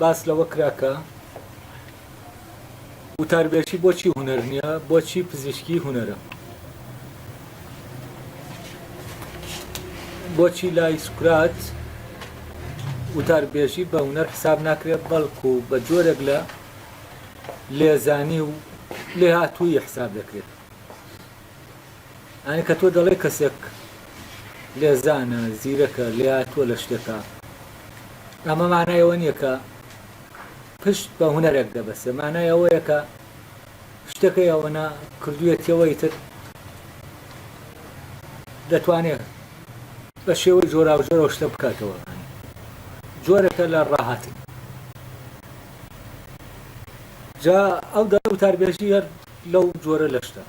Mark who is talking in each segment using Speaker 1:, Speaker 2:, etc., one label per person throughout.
Speaker 1: باس لەوە کرا کە وتاربێژی بۆچی هونەر نییە، بۆچی پزیشکی هونەرە، بۆچی لای سوکرات وتاربێژی بە هونەر حساب ناکرێت بەڵکو بە جۆرێک لە لێزانی و لێهاتوویی حساب دەکرێت. ئەی کە تۆ دەڵێی کەسێک لێزانە، زیرەکە، لێهاتووە لە شتێکا، ئەمە مانای ئەوە نییە کە پشت بە هونەرێک دەبەسێ، مانای ئەوەیە کە شتەکەی ئەوەنە کردوویەتیەوە ئیتر دەتوانێت بە شێوەی جۆراوجۆرەوە شتە بکاتەوە. جۆرەکە لە ڕاهاتن. جا ئەو دەڵێ وتاربێژی هەر لەو جۆرە لە شتە.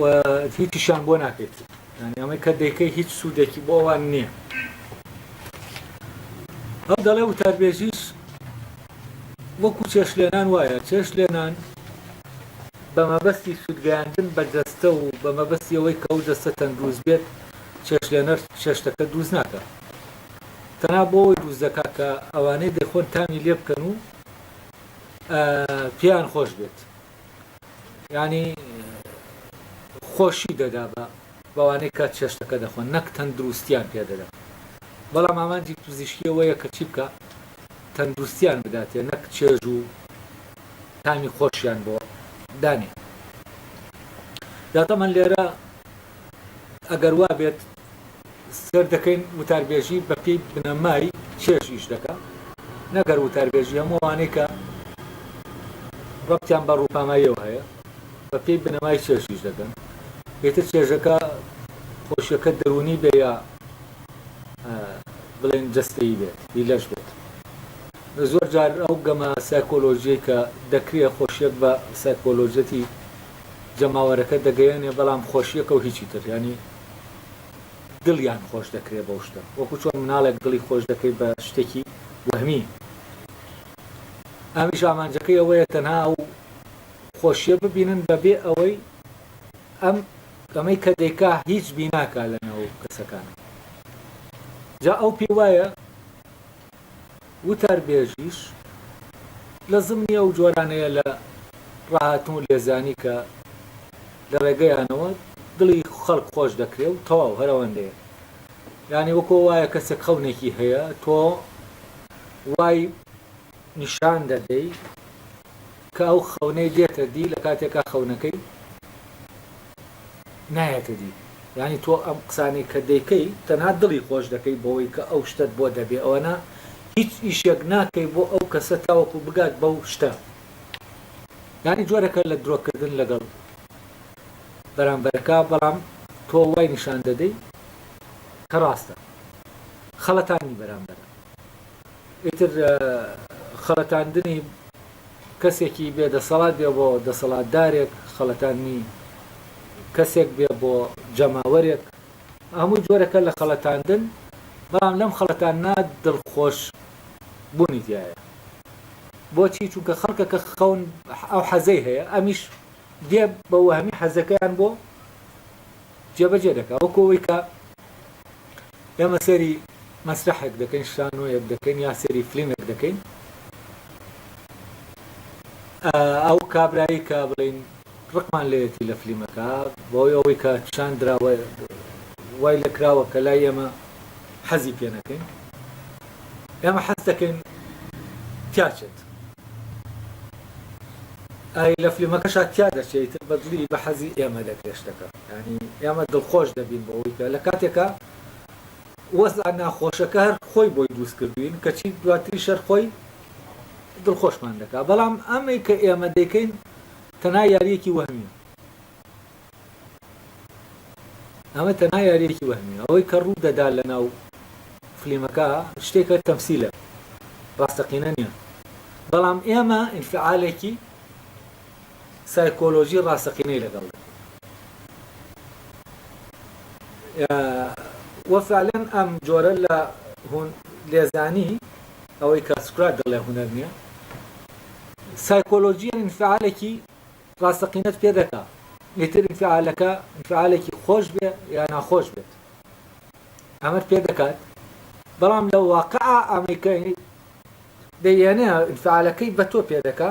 Speaker 1: و هیچیشان بۆ ناکەیت یعنی ئەمەی کە دەیکەی هیچ سوودێکی بۆ ئەوان نییە ئەو دەڵێ وتاربێژیش وەکو چێش لێنان وایە چێش لێنان بە مەبەستی سوودگەیاندن بە جەستە و بە مەبەستی ئەوەی کە ئەو جەستە تەندروست بێت چێش لێنەر چێشتەکە دووز ناکە تەنا بۆەوەی دووز دەکات کە ئەوانەی دەخۆن تامی لێ بکەن و پیان خۆش بێت یانی خۆشی دەدا بە بەوانەی کە چێشتەکە دەخۆن نەک تەندروستیان پێدەدا بەڵام ئامانجی پزیشکی ئەوەیە کە چی بکە تەندروستیان بداتێ نەک چێژ و تامی خۆشیان بۆ دانێ جاتەمان لێرە ئەگەر وا بێت سەیر دەکەین وتاربێژی بە پێی بنەمای چێژ ئیش دەکا نەک هەر وتاربێژی هەموو ئەوانەی کە ڕەبتیان بە ڕووپاماییەوە هەیە بە پێی بنەمای چێژ ئیش دەکەن ئێتر چێژەکە خۆشیەکە دەرونی بێ یا بڵێن جستەی بێت هی لەش بێت زۆر جار ئەو گەمە سایکۆلۆژیە کە دەکرێت خۆشیەک بە سایکۆلۆژەتی جەماوەرەکە دەگەیەنێ بەڵام خۆشیەکە و هیچی تر ینی دڵیان خۆش دەکرێت بەو شتە وەکو چۆن مناڵێک دڵی خۆش دەکەیت بە شتێکی وەهمی ئەمیش ئامانجەکەی ئەوەیە تەنها ئەو خۆشیە ببینن بەبێ ئەوەی ئەم ئەمەی کە دەیکا هیچ بیناکە لە ناو کەسەکان جا ئەو پێ وایە وتاربێژیش لە زمنی ئەو جۆرانەیە لە ڕاهاتن و لێزانی کە لە ڕێگەیانەوە دڵی خەڵک خۆش دەکرێ و تەواو هەر ئەوەندەیە یانی وەکۆ وایە کەسێک خەونێکی هەیە تۆ وای نیشان دەدەی کە ئەو خەونەی دێتە دی لە کاتێکا خەونەکەی نایەتە دی یانی تۆ ئەم قسانەی کە دەیکەی تەنها دڵی خۆش دەکەی بەوەی کە ئەو شتەت بۆ دەبێ ئەوەنا هیچ ئیشێک ناکەی بۆ ئەو کەسە تاوەکو بگات بەو شتە یانی جۆرەکە لە درۆکردن لەگەڵ بەرامبەرەکە بەڵام تۆ وای نیشان دەدەی کە ڕاستە خەڵەتانی بەرامبەرە ئیتر خەڵەتاندنی کەسێکی بێ دەسەڵات بێ بۆ دەسەڵاتدارێک، خەڵەتاندنی کەسێک بێ بۆ جەماوەرێک، هەمووی جۆرێکە لە خەڵەتاندن، بەڵام لەم خەڵەتاندنە دڵخۆش بوونی تیایە. بۆچی؟ چونکە خەڵکەکە خەون ئەو حەزەی هەیە، ئەمیش دێ بە وەهمی حەزەکەیان بۆ جێبەجێ دەکا. وەکو ئەوەی کە ئێمە سەیری مەسرەحێک دەکەین شانۆیەک دەکەین یا سەیری فلیمێک دەکەین ئەو کابرایی کە بڵین ڕقمان لەیەتی لە فلیمەکە بۆی ئەوەی کە چان دراوە وای لە کراوە کە لای ئێمە حەزی پێ نەکەین ئێمە حەز دەکەین تیاچێت ئای لە فلیمەکەشا تیا دەچێت بەدلی بە حەزی ئێمە لە گەشتەکە یانی ئێمە دڵخۆش دەبین بەوەی کە لە کاتێکا وەزعە ناخۆشەکە هەر خۆی بۆی دروست کردوین کەچی دواتری شەر خۆی دڵخۆشمان دەکا بەڵام ئەمەی کە ئێمە دەیکەین تەنا یاریەکی وەهمیە ئەمە تەنا یاریەکی وەهمی ئەوەی کە ڕوو دەدا لە ناو فلیمەکە شتێکە تەمسیلە ڕاستەقینە نییە بەڵام ئێمە ئینفعالێکی سایکۆلۆژی ڕاستەقینەی لەگەڵ دەکەین و فعلەن ئەم جۆرە لە لێزانی ئەوەی کە سکرات دەڵێ هونەر نییە سایکۆلۆژیە انفعالێکی ڕاستەقینەت پێ دەکا ئیتر انفعالەکە انفعالێکی خۆش بێ یا ناخۆش بێت ئەمەت پێ دەکات بەڵام لە واقع ئەمەیکە دەیێنێ انفعالەکەی بە تۆ پێ دەکا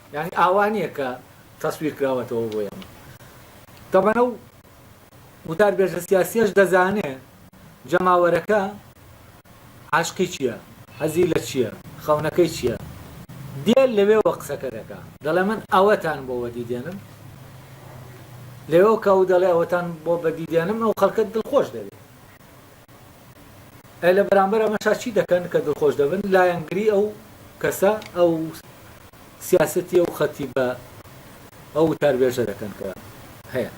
Speaker 1: یانی ئاوا نیە کە تەسویر کراوەتەوە بۆ ئێمە تەبەن ئەو وتاربێژە سیاسیەش دەزانێ جەماوەرەکە عاشقی چیە حەزی لە چیە خەونەکەی چیە دێ لەوێوە قسەکە دەکا دەڵێ من ئەوەتان بۆ وەدی دێنم لەوێوە کە ئەو دەڵێ ئەوەتان بۆ بەدی دێنم ئەو خەڵکە دڵخۆش دەبێ ئەی لە بەرامبەر ئەمەشا چی دەکەن کە دڵخۆش دەبن لایەنگری ئەو کەسە ئەو سیاسەتی ئەو خەتی بە ئەو تاربێژە دەکەن کە هەیە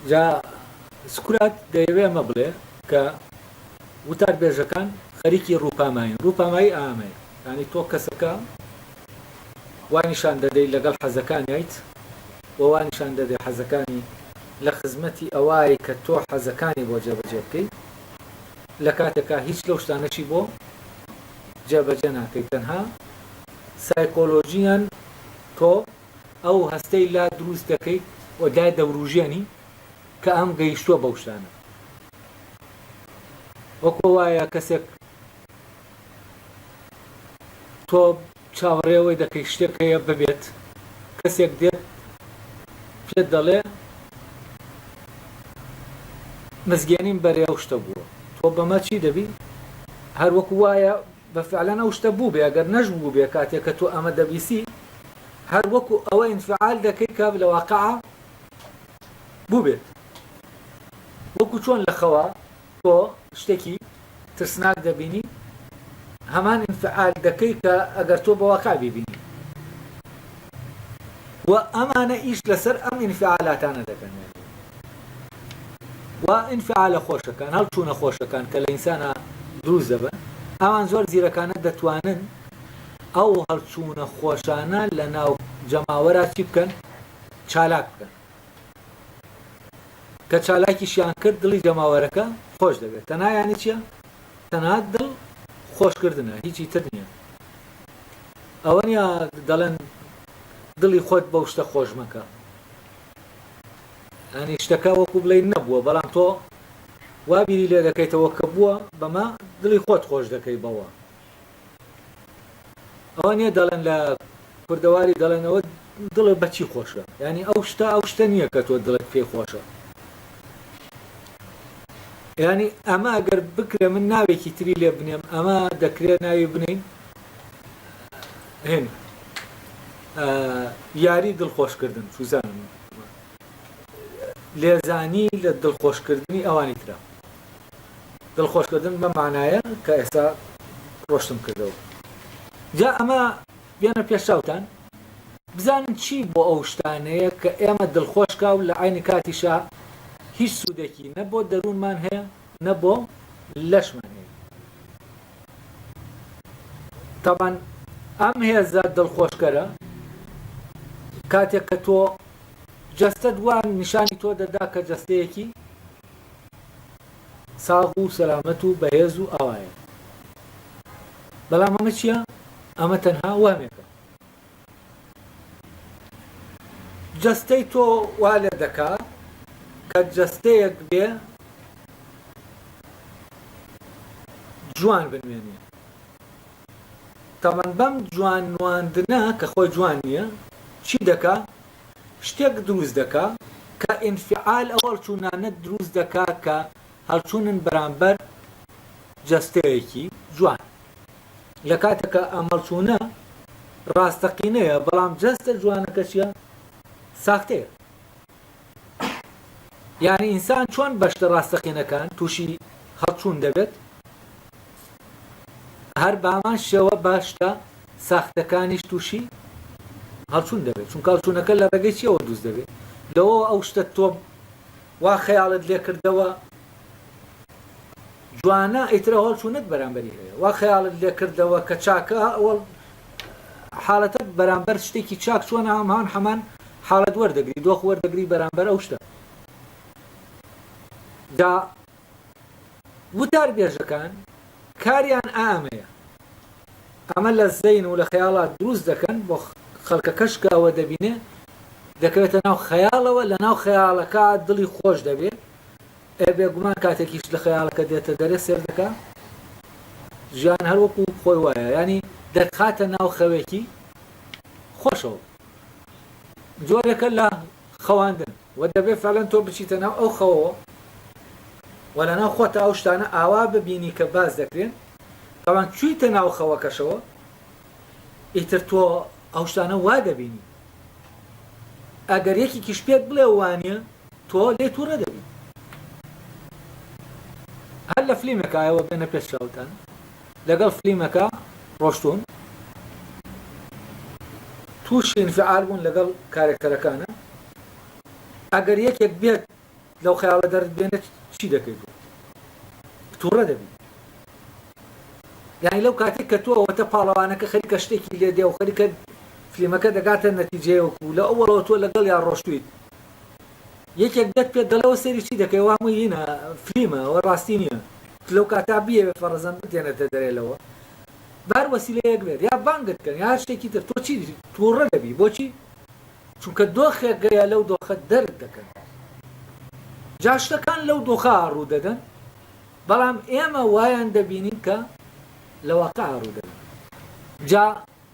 Speaker 1: جا سکرات دەیەوێ ئەمە بڵێ کە وتار بێژەکان خەریکی ڕووپاماین ڕووپامایی ئامەیە ینی تۆ کەسەکە وای نیشان دەدەیت لەگەڵ حەزەکانیت و وا نیشان دەدەی حەزەکانی لە خزمەتی ئەوای کە تۆ حەزەکانی بۆ جێبەجێ بکەی لە کاتێکا هیچ لەو شتانەشی بۆ جێبەجێ ناکەی تەنها سایکۆلۆژیان تۆ ئەو هەستەی لا دروست دەکەیت و دای دەوروژێنی کە ئەم گەیشتووە بەو شتانە وەکۆ وایە کەسێک تۆ چاوەڕێ ئەوەی دەکەی شتێک هەیە ببێت، کەسێک دێت پێت دەڵێ مزگێنیم بەرێ ئەو شتە بووە، تۆ بەمە چی دەبی؟ هەر وەکو وایە بە فعلەن ئەو شتە بووبێ، ئەگەر نەشبووبێ کاتێک کە تۆ ئەمە دەبیسی هەر وەکو ئەوە ئینفعال دەکەی کە لە واقعا بووبێت. وەکو چۆن لە خەوا. تۆ شتێکی ترسناک دەبینی هەمان انفعال دەکەی کە ئەگەر تۆ بە واقع بیبینی و ئەمانە ئیش لەسەر ئەم انفعالاتانە دەکەن و انفعالە خۆشەکان هەڵچوونە خۆشەکان کە لە ئینسانە دروست دەبن ئەوان زۆر زیرەکانە دەتوانن ئەو هەڵچوونە خۆشانە لە ناو جەماوەرا چی بکەن چالاک بکەن کە چالاکیشیان کرد دڵی جەماوەرەکە خۆش دەبێت تەنها یانی چییە تەنها دڵ خۆشکردنە هیچی تر نییە ئەوە نیە دەڵێن دڵی خۆت بەو شتە خۆش مەکە ئەنی شتەکە وەکو بڵێ نەبووە بەڵام تۆ وابیری لێ دەکەیتەوە کە بووە بەمە دڵی خۆت خۆش دەکەی بەوە ئەوە نیە دەڵێن لە کوردەواری دەڵێن ئەوە دڵە بەچی خۆشە ینی ئەو شتە ئەو شتە نییە کە تۆ دڵت پێی خۆشە ینی ئەمە ئەگەر بکرێ من ناوێکی تری لێ بنێم ئەمە دەکرێ ناوی بنین هێن یاری دڵخۆشکردن سوزان لێزانی لە دڵخۆشکردنی ئەوانی ترە دڵخۆشکردن بەم مانایە کە ئێستا ڕۆشتم کردەوە. جا ئەمە بێنە پێش چاوتان بزانن چی بۆ ئەو شتانەیە کە ئێمە دڵخۆش کا و لە عەینی کاتیشا هیچ سوودێکی نە بۆ دەروونمان هەیە نە بۆ لەشمان هەیە. تەبعەن ئەم هێزە دڵخۆشکەرە کاتێک کە تۆ جەستەت وا نیشانی تۆ دەدا کە جەستەیەکی ساغ و سەلامەت و بەهێز و ئاوایە. بەڵام ئەمە چییە؟ ئەمە تەنها وەهمێکە. جەستەی تۆ وا لێ دەکا کە جەستەیەک بێ جوان بنوێنێ. تەبەن بەم جوان نواندنە کە خۆی جوان نییە، چی دەکا؟ شتێک دروست دەکا کە ئینفعال ئەو هەڵچوونانە دروست دەکا کە هەڵچوونن بەرامبەر جەستەیەکی جوان لە کاتێکا ئەم هەڵچوونە ڕاستەقینەیە بەڵام جەستە جوانەکە چیە ساختەیە یعنی ئینسان چۆن بەشتە ڕاستەقینەکان تووشی هەڵچوون دەبێت هەر بامان شێوە باشتە ساختەکانیش تووشی هەڵچوون دەبێت چونکە هەڵچوونەکە لە ڕێگەی چیەوە دروست دەبێت لەوەوە ئەو شتە تۆم وا خەیاڵت لێکردەوە جوانە ئیترە هەڵچوونت بەرامبەری هەیە وا خەیاڵت لێکردەوە کە چاکە ئەوڵ حاڵەتە بەرامبەر شتێکی چاک چۆن هەمان هەمان حاڵەت وەردەگری دۆخ وەردەگری بەرامبەر ئەو شتە جا وتاربێژەکان کاریان ئامەیە ئەمە لە زەین و لە خەیاڵات دروست دەکەن بۆ خەلکەکەش کە ئەوە دەبینێ دەکەوێتە ناو خەیاڵەوە لە ناو خەیاڵەکە دڵی خۆش دەبێ ئێ بێگومان کاتێکیش لە خەیاڵەکە دێتە دەرێ سێر دەکە ژیان هەروەکو خۆی وایە ینی دەتخاتە ناو خەوێکی خۆشەوە جۆرێکە لە خەواندن وە دەبێت فەعلەن تۆ بچیتە ناو ئەو خەوەوە وە لەناو خۆتە ئەو شتانە ئاوا ببینی کە باس دەکرێن تەبان چویتە ناو خەوەکەشەوە ئیتر تۆ ئەو شتانە وا دەبینی ئەگەر یەکێکیش پێت بڵێ وانە تۆ لێ تووڕە دەبی هەر لە فلیمێکایەوە بێنە پێش چاوتان لەگەڵ فلیمەکە ڕۆشتوون تووشی انفعال بوون لەگەڵ کارێکتەرەکانە ئەگەر یەکێک بێت لەو خەیاڵە دەرت بێنێت چی دەکەی بۆ تووڕە دەبی یعنی لەو کاتێک کە تۆ ئەوەتە پاڵەوانەکە خەریکە شتێکی لێ دێ و خەریکە فلیمەکە دەگاتە نەتیجەیەوەکو لە ئەوڵەوە تۆ لەگەڵ یا ڕۆشتویت یەکێک دێت پێت دەڵێ ئەوە سەیری چی دەکەی ئەوە هەمووی هینە فلیمە ئەوە ڕاستی نیە تو لەو کاتە بیەوێ فەڕەزەن بتهێنێتە دەرێ لەوە بە هەر وەسیلەیەک بێت یا بانگت کەن یا هەر شتێکی تر تۆ چی توڕە دەبی بۆچی چونکە دۆخێک گەیە لەو دۆخە دەرت دەکەن جا شتەکان لەو دۆخە ڕوو دەدەن بەڵام ئێمە وایان دەبینین کە لە واقع ڕوو دەدەن جا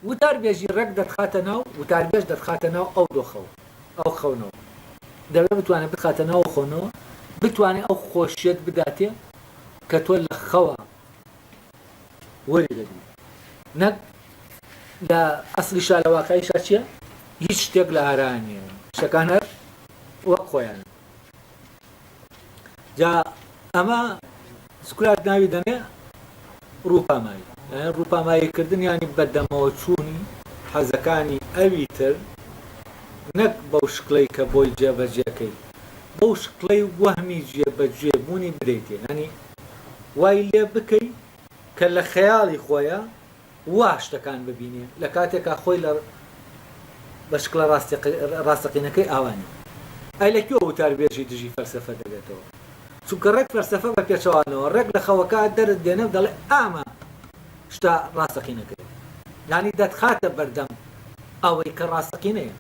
Speaker 1: وتاربێژی ڕێک دەتخاتە ناو، وتاربێژ دەتخاتە ناو ئەو دۆخەوە، ئەو خەونەوە. دەبێ بتوانێ بتخاتە ناو ئەو خەونەوە، بتوانێ ئەو خۆشییەت بداتێ کە تۆ لە خەوا وەری دەگری. نەک لە ئەسڵیشا، لە واقعیشا چییە؟ هیچ شتێک لە ئارایا نییە. شتەکان هەر وەک خۆیانن. جا ئەمە سکرات ناوی دەنێ ڕووپامایی یان ڕووپاماییکردن ینی بەدەمەوە چوونی حەزەکانی ئەوی تر نەک بەو شکلەی کە بۆی جێبەجێەکەی بەو شکڵەی وەهمی جێبەجێ بوونی بدەیتێ ینی وای لێ بکەی کە لە خەیاڵی خۆیە وا شتەکان ببینێ لە کاتێکا خۆی لە بەشکڵە ڕاستەقینەکەی ئاوا نییە. ئەی لە کوێ وتاربێژی دژی فەلسەفە دەبێتەوە؟ چونکە ڕێک فەلسەفە بە پێچەوانەوە ڕێک لە خەوەکە دەرت دێنێ و دەڵێ ئامە شتە ڕاستەقینەکەیە. یانی دەتخاتە بەردەم ئەوەی کە ڕاستەقینەیە.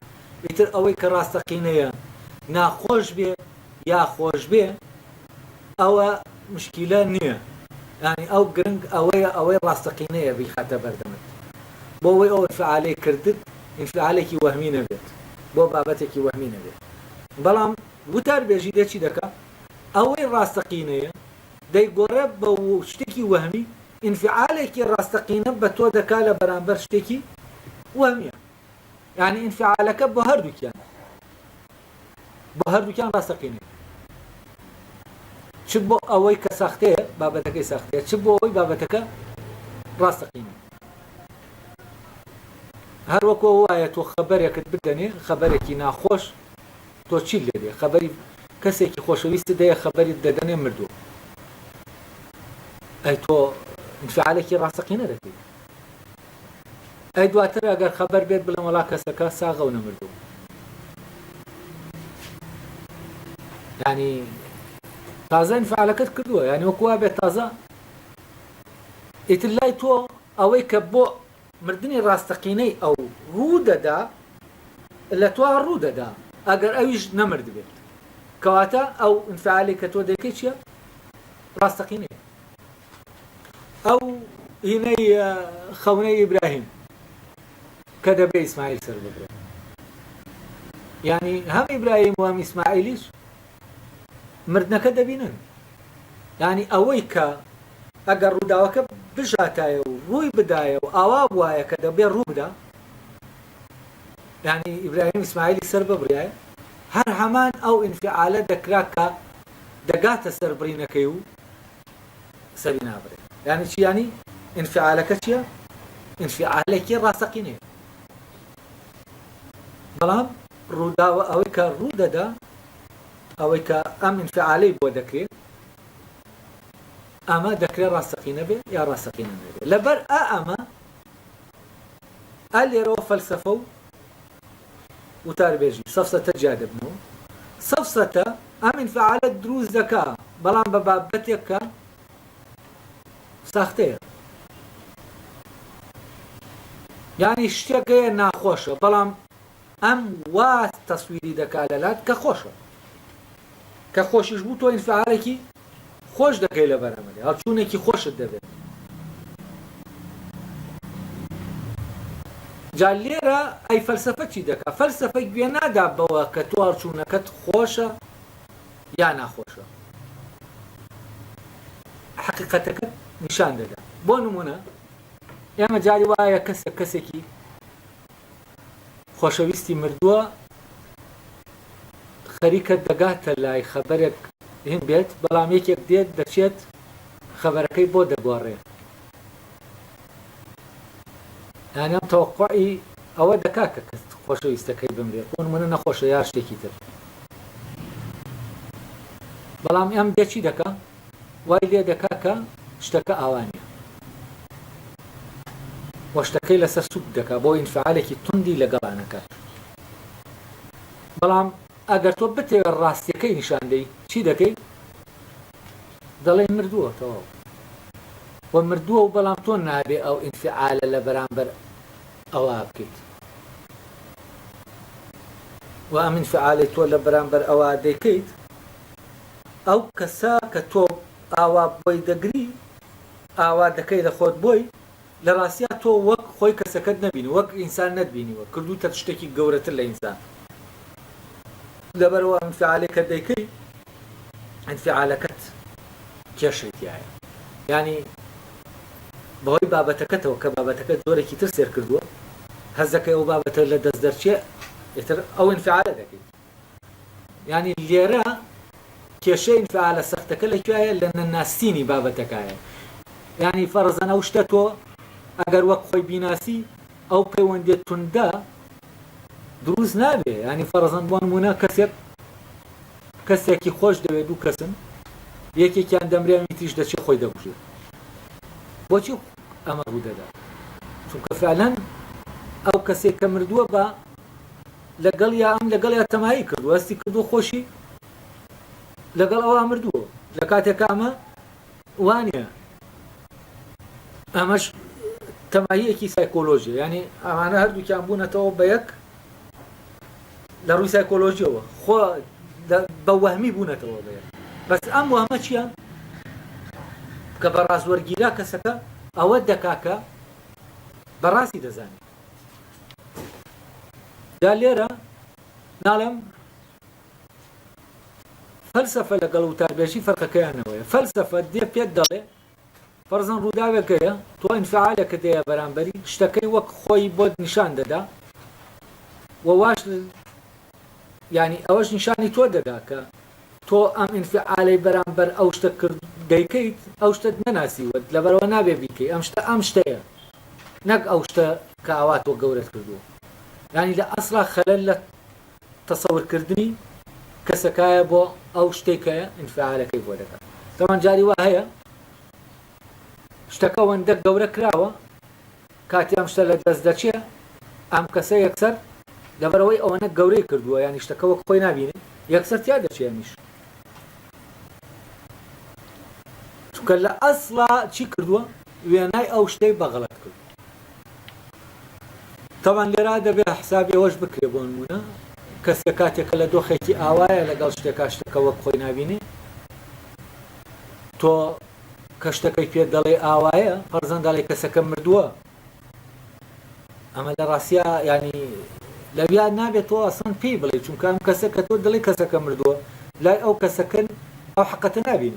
Speaker 1: ئیتر ئەوەی کە ڕاستەقینەیە ناخۆش بێ یا خۆش بێ، ئەوە مشکیلە نیە یانی ئەو گرنگ ئەوەیە ئەوەی ڕاستەقینەیە بیخاتە بەردەمت بۆ ئەوەی ئەو ئینفعالەی کردت ئینفعالێکی وەهمی نەبێت بۆ بابەتێکی وەهمی نەبێت بەڵام وتار بێژی دێ چی دەکا ئەوەی ڕاستەقینەیە دەیگۆڕێ بە شتێکی وەهمی ئینفعالێکی ڕاستەقینە بە تۆ دەکا لە بەرامبەر شتێکی وەهمیە یانی ئینفعالەکە بۆ هەردووکیان بۆ هەردووکیان ڕاستەقینەیە چ بۆ ئەوەی کە سەختەیە بابەتەکەی سەختەیە چ بۆ ئەوەی بابەتەکە ڕاستەقینە هەروەکو وایە تۆ خەبەرێکت بدەنێ خەبەرێکی ناخۆش تۆ چی لێ دێ خەبەری کەسێکی خۆشەویست دەیە خەبەری دەدەنێ مردووە ئەی تۆ فعالێکی ڕاستەقینە دەکەیت ئەی دواتر ئەگەر خەبەر بێت بڵێن وەڵا کەسەکە ساغە و نەمردوو ینی تازە انفعالەکەت کردووە یعنی وەکووا بێت تازە ئیتر لای تۆ ئەوەی کە بۆ مردنی ڕاستەقینەی ئەو ڕوو دەدا لە توا ڕوو دەدا ئەگەر ئەویش نەمرد بێت کەواتە ئەو انفعالی کە تۆ دەکەی چیە ڕاستەقینەیە ئەو هینەی خەونەی ئیبراهیم کە دەبێ ئیسماعیل سەر بگرێ یعنی هەم ئیبراهیم و هەم ئیسماعیلیش مردنەکە دەبینن ینی ئەوەی کە ئەگەر ڕووداوەکە بژاتایە و ڕووی بدایە و ئاوا وایە کە دەبێ ڕوو بدا ینی ئیبراهیم ئیسماعیلی سەر ببڕایە هەر هەمان ئەو ئینفعالە دەکرا کە دەگاتە سەربڕینەکەی و سەری نابرێ یانی چی یانی ئینفعالەکە چیە ئینفعالێکی ڕاستەقینەیە بەڵام ڕووداوە ئەوەی کە ڕوو دەدا ئەوەی کە ئەم ئینفعالەی بۆ دەکرێت ئەمە دەکرێ ڕاستەقینە بێ یا ڕاستەقینە نەبێ لەبەر ئا ئەمە ئا لێرەوە فەلسەفە و وتاربێژی سەفسەتە جیا دەبنەوە. سەفسەتە ئەم ئینفعالە دروست دەکا بەڵام بە بابەتێک کە ساختەیە. یانی شتێک هەیە ناخۆشە بەڵام ئەم وا تەسویری دەکا لەلات کە خۆشە. کە خۆشیش بوو تۆ ئینفعالێکی خۆش دەکەی لە بەرامبەری هەڵچوونێکی خۆشت دەبێت جا لێرە ئەی فەلسفە چی دەکا فەلسفە گوێ نادا بەوە کە تۆ هەڵچوونەکەت خۆشە یا ناخۆشە حقیقەتەکەت نیشان دەدا بۆ نمونە ئێمە جاری وایە کەسێک کەسێکی خۆشەویستی مردووە خەریکە دەگاتە لای خەبەرێک هین بێت بەڵام یەکێک دێت دەچێت خەبەرەکەی بۆ دەگۆڕێ ئەنەم تەوقعی ئەوە دەکا کە کەس خۆشەویستەکەی بمرێت بۆن منە نەخۆشە یا شتێکی تر بەڵام ئەم دێ چی دەکە وای لێ دەکا کە شتەکە ئاوا نیە و شتەکەی لەسەر سوک دەکا بۆ ئینفعالێکی توندی لەگەڵا نەکات بەڵام ئەگەر تۆ بتەوێت ڕاستیەکەی نیشاندەی چی دەکەی دەڵێ مردووە تەواو و مردووە و بەڵام تۆ نابێ ئەو ئینفعالە لە بەرامبەر ئەوە بکەیت و ئەمین فعالی تۆ لە بەرامبەر ئەوە دەیکەیت ئەو کەسە کە تۆ ئاوا بۆی دەگری ئاوا دەکەی لە خۆت بۆی لە ڕاستیا تۆ وەک خۆی کەسەکەت نەبینی وەک ئینسان نەتبینیوە کردوتەت شتێکی گەورەتر لە ئینسان لەبەرئەوە ئەنفعالێک کە دەیکەی ئەنفعالەکەت کێشەی تیایە یانی بەهۆی بابەتەکەتەوە کە بابەتەکە جۆرێکی تر سێر کردووە هەزەکەی ئەو بابەتە لە دەست دەرچێ ئیتر ئەو ئەنفعالە دەکەی یانی لێرە کێشەی ئینفعالە سەختەکە لە کوێیە لە نەناستینی بابەتەکایە یانی فەرەزەن ئەو شتە تۆ ئەگەر وەک خۆی بیناسی ئەو پەیوەندێت توندە دروست نابێ ینی فەرەزەن بۆ نمونە کەسێک کەسێکی خۆش دەوێت دوو کەسن یەکێکیان دەمرێنی تیش دەچێت خۆی دەبژێت بۆچی ئەمە ڕوو دەدا چونکە فعلەن ئەو کەسێک کە مردووە بە لەگەڵیا ئەم لەگەڵیا تەمایی کرد و هەستی کردووە خۆشی لەگەڵ ئەوا مردووە لە کاتێکە ئەمە وانە ئەمەش تەماییەکی سایکۆلۆژیە ینی ئەمانە هەردووکیان بوونەتەوە بە یەک لە ڕووی سایکۆلۆژیەوە خۆ بە وەهمی بوونەتەوە بە بەس ئەم وەهمە چییە کە بە ڕاستوەرگیرا کەسەکە ئەوە دەکاکە بەڕاستی دەزانێت جا لێرە ناڵێم فەلسەفە لەگەڵ وتاربێژی فەرقەکەیانەوەیە فەلسەفە دێ پێت دەڵێ فەرزن ڕووداوێکەیە تۆ ئینفعالێکە دەیە بەرامبەری شتەکەی وەک خۆی بۆت نیشان دەدا وواش ینی ئەوەش نیشانی تۆ دەدا کە تۆ ئەم ئینفیعالەی بەرامبەر ئەو شتە کرد دەیکەیت ئەو شتەت نەناسیوە لەبەرئەوە نابێ بیکەی ئەم شتە ئەم شتەیە نەک ئەو شتە کە ئاوا تۆ گەورەت کردووە یانی لە ئەسڵا خەلەل لە تەسەورکردنی کەسەکایە بۆ ئەو شتەی کە ئینفیعالەکەی بۆ دەکات تاوان جاری وا هەیە شتەکە وەندە گەورە کراوە کاتی ئەم شتە لە دەست دەچێ ئەم کەسە یەکسەر لەبەرئەوەی ئەوەنە گەورەی کردووە یانی شتەکە وەک خۆی نابینێ یەکسەر تیا دەچێ ئەمیش چونکە لە ئەسڵا چی کردووە وێنای ئەو شتەی بەغڵەت کرد تەوان لێرا دەبێ حسابی ئەوەش بکرێ بۆ نمونە کەسێ کاتێکە لە دۆخێکی ئاوایە لەگەڵ شتێکا شتەکە وەک خۆی نبینێ تۆ کە شتەکەی پێت دەڵێ ئاوایە پەرزەن دەڵێ کەسەکە مردووە ئەمە لە ڕاستیا ینی لەویا نابێت تۆ ئاسان پێی بڵێ چونکە ئەم کەسە کە تۆ دڵی کەسەکە مردووە لای ئەو کەسەکەن ئەو حقەتە نابین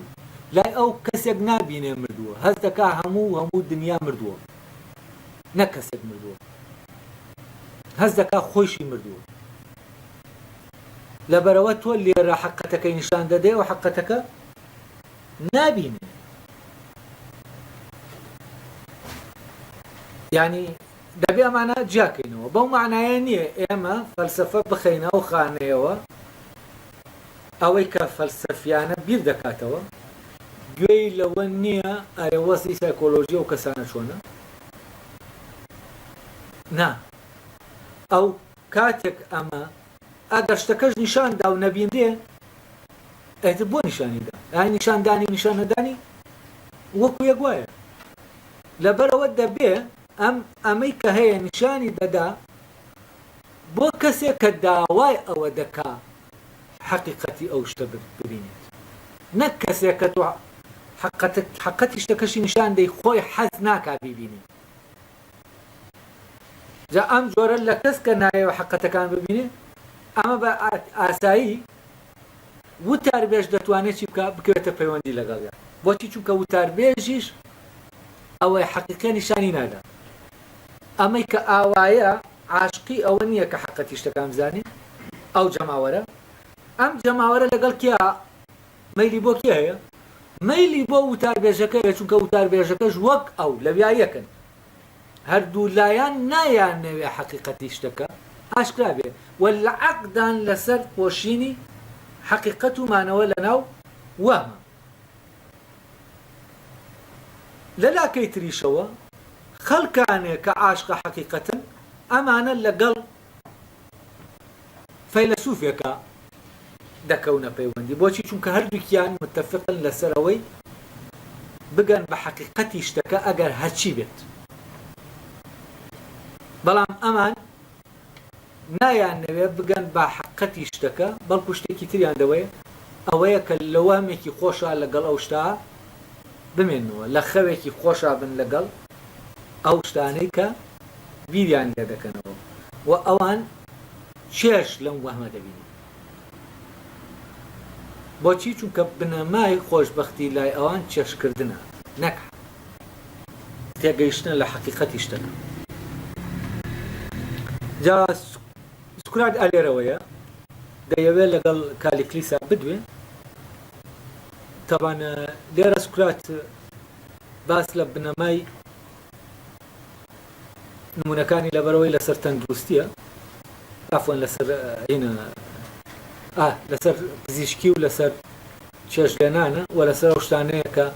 Speaker 1: لای ئەو کەسێک نابینێ مردووە هەز دەکا هەموو هەموو دنیا مردووە نە کەسێک مردووە هەز دەکا خۆشی مردووە لەبەرەوە تۆ لێرە حقەتەکەی نیشان دەدەی و حقەتەکە نابینن یعنی دەبێ ئەمانە جیاکەینەوە بەو معنایە نییە ئێمە فەلسفە بخینە ئەو خانەیەوە ئەوەی کە فەلسفیانە بیر دەکاتەوە گوێی لەوە نییە ئەرێ وەزی سایکۆلۆژی و کەسانە چۆنە نا ئەو کاتێک ئەمە ئەگەر شتەکەش نیشان دا و نەبینرێ، ئیتر بۆ نیشانی دا؟ ئەی نیشان دانی و نیشان نەدانی وەکو یەک وایە؟ لەبەرئەوە دەبێ ئەم ئەمەی کە هەیە نیشانی دەدا بۆ کەسێک کە داوای ئەوە دەکا حەقیقەتی ئەو شتە ببینێت، نەک کەسێک کە تۆ حەقەتی شتەکەشی نیشان دەی خۆی حەز ناکا بیبینێت. جا ئەم جۆرە لە کەس کە نایەوە حەقەتەکان ببینێ ئەمە بە ئاسایی وتاربێژ دەتوانێت چی بکە بکەوێتە پەیوەندی لەگەڵیان بۆچی چونکە وتاربێژیش ئەوەی حەقیقە نیشانی نادا ئەمەی کە ئاوایە عاشقی ئەوە نییە کە حەقەتی شتەکان بزانێ ئەو جەماوەرە ئەم جەماوەرە لەگەڵ کیا مەیلی بۆ کێ هەیە؟ مەیلی بۆ وتاربێژەکە هەیە، چونکە وتاربێژەکەش وەک ئەو لەویا یەکن. هەردوو لایان نایانەوێ حەقیقەتی شتەکە ئاشکرا بێ و لە عەقدان لەسەر پۆشینی حەقیقەت و مانەوە لەناو وەهمە. لە لاکەی تریشەوە خەڵکانێ کە عاشقە حەقیقەتن، ئەمانە لەگەڵ فەیلەسوفێکە دەکەونە پەیوەندی بۆچی چونکە هەردووکیان متفقن لەسەر ئەوەی بگەن بە حەقیقەتی شتەکە ئەگەر هەرچی بێت بەڵام ئەمان نایان نەوێ بگەن بە حقەتی شتەکە بەڵکو شتێکی تریان دەوەیە ئەوەیە کە لە وەهمێکی خۆشە لەگەڵ ئەو شتا بمێنەوە لە خەوێکی خۆشە بن لەگەڵ ئەو شتانەی کە بیریان لێ دەکەنەوە و ئەوان چێژ لەم وەهمە دەبینن. بۆچی؟ چونکە بنەمای خۆشبەختی لای ئەوان چێژکردنە نەک تێگەیشتنە لە حەقیقەتی شتەکە. جا سوکرات ئا لێرەوەیە دەیەوێت لەگەڵ کالیکلیسا بدوێ. تەبان لێرە سوکرات باس لە بنەمای نمونەکانی لەبەرەوەی لەسەر تەندروستیە ئافۆن لەسەر هینە لەسەر پزیشکی و لەسەر چێش لێنانە و لەسەر ئەو شتانەیە کە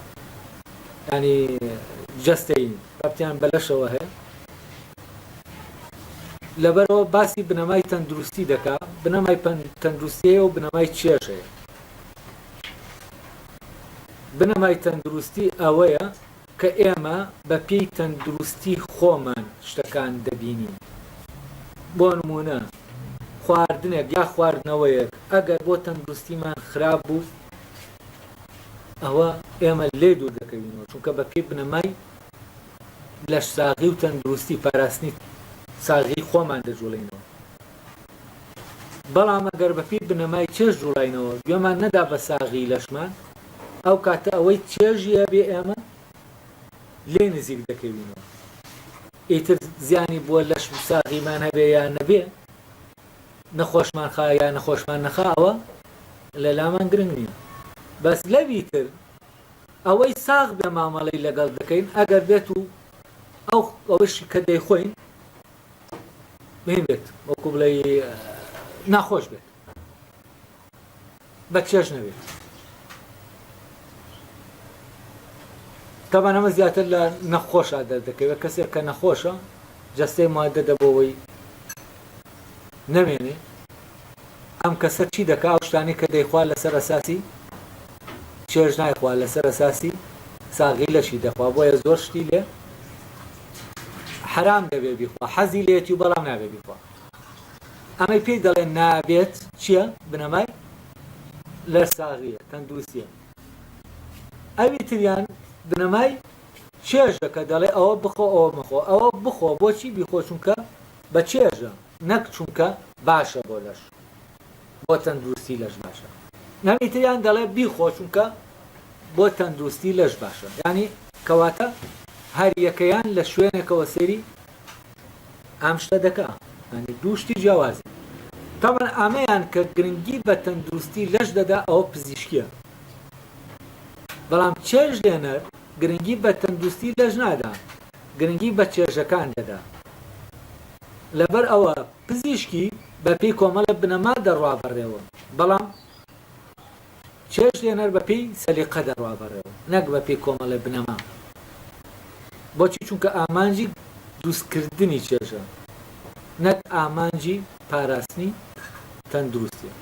Speaker 1: ینی جستین رابتیان بەلەشەوە هەیە لەبەرەوە باسی بنەمای تەندروستی دەکا بنەمای تەندروستیەیە و بنەمای چێژەیە بنەمای تەندروستی ئەوەیە کە ئێمە بە پێی تەندروستی خۆمان شتەکان دەبینین بۆ نموونە خواردنێک یا خواردنەوەیەک ئەگەر بۆ تەندروستیمان خراپ بوو ئەوە ئێمە لێ دوور دەکەوینەوە چونکە بە پێی بنەمای لەش ساغی و تەندروستی پاراستنی ساغی خۆمان دەجوڵینەوە بەڵام ئەگەر بەپی بنەمای چێش جوڵینەوە گوێمان نەدا بە ساغی لەشمان ئەو کاتە ئەوەی چێژی هەبێ ئێمە لێی نزیک دەکەوینەوە. ئیتر زیانی بۆ لەش و ساغیمان هەبێ یا نەبێ، نەخۆشمان خا یا نەخۆشمان نەخا ئەوە لە لامان گرنگ نییە. بەس لەوی تر ئەوەی ساغ بێ مامەڵەی لەگەڵ دەکەین ئەگەر بێت و ئەو ئەوەشی کە دەیخۆین مین بێت وەکو بڵێ ناخۆش بێت. بە چێژ نەبێت تابان ئەمە زیاتر لە نەخۆشە دەردەکەوێت کەسێک کە نەخۆشە جەستەی مادە دەبەوەی نەمێنێ ئەم کەسە چی دەکە ئەو شتانی کە دەیخوا لەسەر ئەساسی چێژ نایخوا لەسەر ئەساسی ساغی لەشی دەخوا بۆیە زۆر شتی لێ حرام دەبێ بیخوا حەزی لێتی و بەڵام نابێ بیخوا ئەمەی پێی دەڵێن نابێت چیە بنەمای لە ساغیە تەندوسیە ئەوی تریان بنەمای چێژە کە دەڵێ ئەوە بخۆ ئەوە مەخۆ ئەوە بخۆ بۆچی بیخۆ چونکە بە چێژە نەک چونکە باشە بۆ لەش بۆ تەندروستی لەش باشە نەوی تریان دەڵێ بیخۆ چونکە بۆ تەندروستی لەش باشە ینی کەواتە هەر یەکەیان لە شوێنێکەوە سێری ئەم شتە دەکا ینی دوو شتی جیاوازە تاوان ئامەیان کە گرنگی بە تەندروستی لەش دەدا ئەوە پزیشکیە بەڵام چێژ لێنەر گرنگی بە تەندروستی لەش نادا گرنگی بە چێژەکان دەدا لەبەر ئەوە پزیشکی بەپی کۆمەڵە بنەما دەڕوا بەڕێوە بەڵام چێشت لێنەر بە پێی سەلیقە دەڕوا بەڕێوە نەک بە پێی کۆمەڵێ بنەما بۆچی چونکە ئامانجی دروست کردنی چێژە نەک ئامانجی پاراستنی تەندروستیە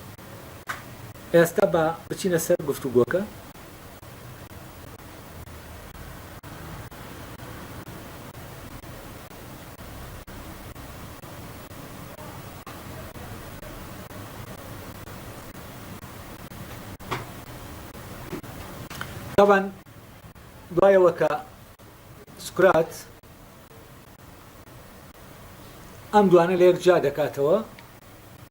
Speaker 1: ئێستا بە بچینە سەر گفتوگۆکە تابان دوایەوە کە سکرات ئەم دوانە لە یەک جا دەکاتەوە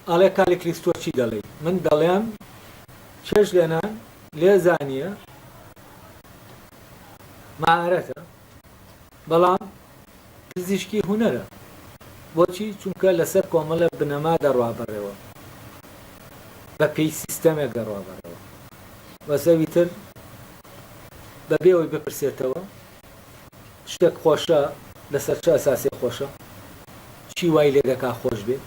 Speaker 1: ئەڵێ کالی کریستۆ چی دەڵێ من دەڵێم چێش لێنان لێزانە مەهارەتە بەڵام پزیشکی هونەرە بۆچی چونکە لەسەر کۆمەڵە بنەما دەڕوا بەڕێوە بە پێی سیستەمێک دەڕوا بەڕێوە وەسەوی تر بەبێ ئەوی بپرسێتەوە شتێک خۆشە لەسەر چ ئەساسێ خۆشە چی وای لێ دەکا خۆش بێ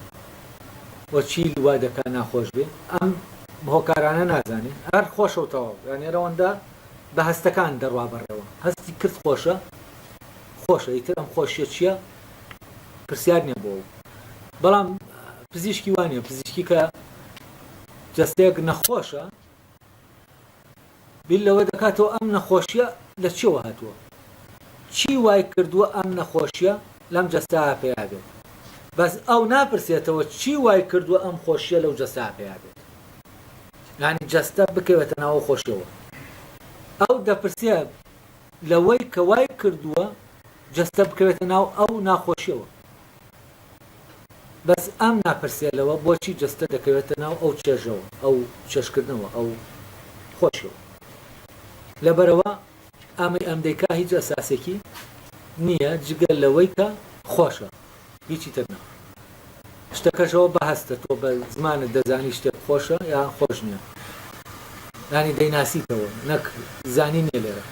Speaker 1: و چی وا دەکا ناخۆش بێ ئەم هۆکارانە نازانین هەر خۆشە و تەواو یانێرەوەندە بە هەستەکان دەڕوا بەڕێوە هەستی کرد خۆشە خۆشە ئیتر ئەم خۆشیە چییە پرسیار نیە بۆ بەڵام پزیشکی وانە پزیشکی کە جەستەیەک نەخۆشە بیر لەوە دەکاتەوە ئەم نەخۆشیە لە چیەوە هاتووە چی وای کردووە ئەم نەخۆشیە لەم جەستا پێیا بێت بەس ئەو ناپرسێتەوە چی وای کردووە ئەم خۆشیە لەو جەستا پێیا بێت یانی جەستە بکەوێتە ناو ئەو خۆشیەوە ئەو دەپرسێ لەوەی کە وای کردووە جەستە بکەوێتە ناو ئەو ناخۆشیەوە بەس ئەم ناپرسێ لەوە بۆچی جەستە دەکەوێتە ناو ئەو چێژەوە ئەو چێشکردنەوە ئەو خۆشیەوە لەبەرەوە ئەمەی ئەم دەیکا هیچ ئەساسێکی نییە جگە لەوەی کە خۆشە هیچی تر نا شتەکەش ئەوە بە هەستە تۆ بە زمانت دەزانی شتێک خۆشە یا خۆش نییە ینی دەیناسیتەوە نەک زانی نیە لێرە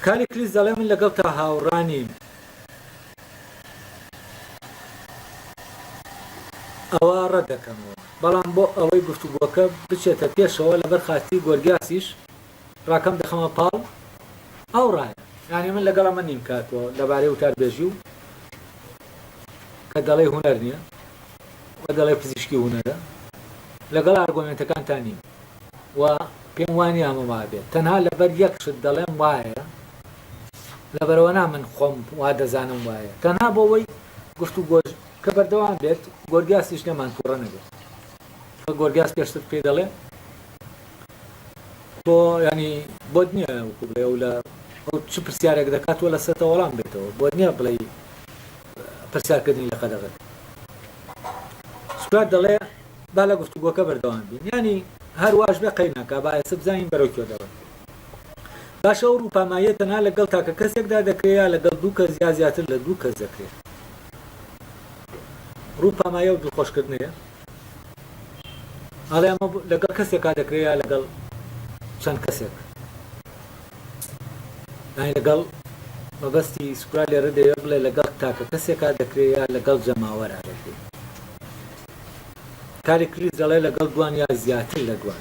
Speaker 1: کاری کلیس دەڵێ من لەگەڵ تا هاوڕانیم ئەوە ڕەدەکەمەوە بەڵام بۆ ئەوەی گفتوگۆکە بچێتە پێشەوە لەبەر خاتی گۆرگیاسیش ڕاکەم دەخەمە پاڵ ئەو ڕایە. یانی من لەگەڵ ئەمە نیم کاک و لەبارەی وتاربێژی و کە دەڵێی هونەر نییە و دەڵێ پزیشکی هونەرە لەگەڵ ئارگۆمێنتەکانتان نیم و پێم وانی ئەمە وابێت تەنها لەبەر یەک شت دەڵێم وایە لەبەرەوە نا من خۆم وا دەزانم وایە تەنها بۆ وەی گفت و گۆش کە بەردەوام بێت گۆرگاسیش لێمان تووڕە نەبێت گۆرگاس پێشتر پێ دەڵێ تۆ یانی بۆت نیە وەکو بڵێ ئەو لە ئەو چ پرسیارێک دەکات تۆ لە سەرتە وەڵام بێتەوە بۆت نیە بڵێ پرسیارکردنی لە قەدەغت سکار دەڵێ با لە گفتوگۆکە بەردەوام بین ینی هەر واش بێ قەی ناکە با ئێستا بزانین بەرەو کوێ دەڵێ باشە ئەو ڕووپاماییە تەنها لەگەڵ تاکە کەسێکدا دەکرێت یا لەگەڵ دوو کەس یا زیاتر لە دوو کەس دەکرێت ڕووپامایە و دڵخۆشکردنەیە ئاڵێ ئەمە لەگەڵ کەسێکا دەکرێت یا لەگەڵ چەند کەسێک یانی لەگەڵ مەبەستی سوپرا لێرە دەوێت بڵێ لەگەڵ تاکە کەسێکا دەکرێت یا لەگەڵ جەماوەرا دەکرێت کاری کلیس دەڵێ لەگەڵ دوان یا زیاتر لە دوان